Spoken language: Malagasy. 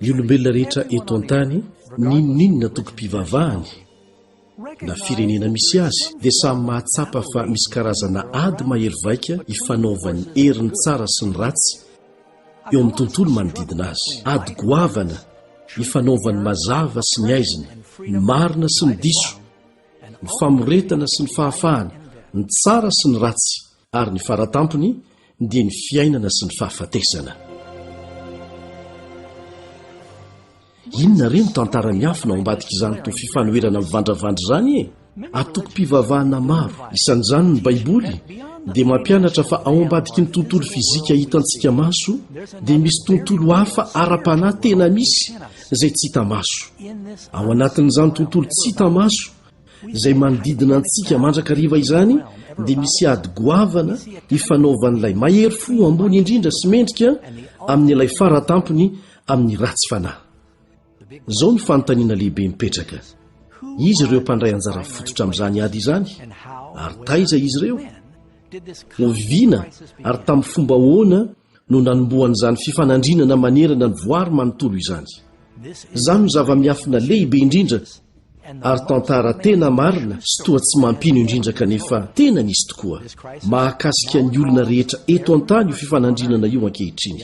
ny olombelona rehetra eto an-tany ninoninona tokom-pivavahany na firenena misy azy dia samy mahatsapa fa misy karazana ady mahery vaika ifanaovan'ny herin'ny tsara sy ny ratsy eo amin'ny tontolo manodidina azy. Ady goavana ifanaovan'ny mazava sy ny aizina, ny marina sy ny diso, ny famoretana sy ny fahafahana, ny tsara sy ny ratsy, ary ny fara tampony dia ny fiainana sy ny fahafatesana. Inona re no tantara miafina ao ambadik'izany toa fifanoherana mivandravandra izany e? Antokom-pivavahana maro, isan'izany ny Baiboly, dia mampianatra fa ao ambadiky ny tontolo fizika hitantsika maso dia misy tontolo hafa ara-panahy tena misy izay tsy hita maso. Ao anatin'izany tontolo tsy hita maso izay manodidina antsika mandrakariva izany dia misy ady goavana ifanaovan'ilay mahery fo ambony indrindra sy mendrika amin'ilay fara tampony amin'ny ratsy fanahy. Izao no fanontaniana lehibe mipetraka, Iza ireo mpandray anjara fototra amin'izany ady izany, ary taiza izy ireo? Oviana ary tamin'ny fomba ahoana no nanombohan'izany fifanandrinana manerana ny voary manontolo izany? Izany no zava-miafina lehibe indrindra, ary tantara tena marina sy toa tsy mampino indrindra kanefa tena nisy tokoa, mahakasika ny olona rehetra eto an-tany io fifanandrinana io ankehitriny.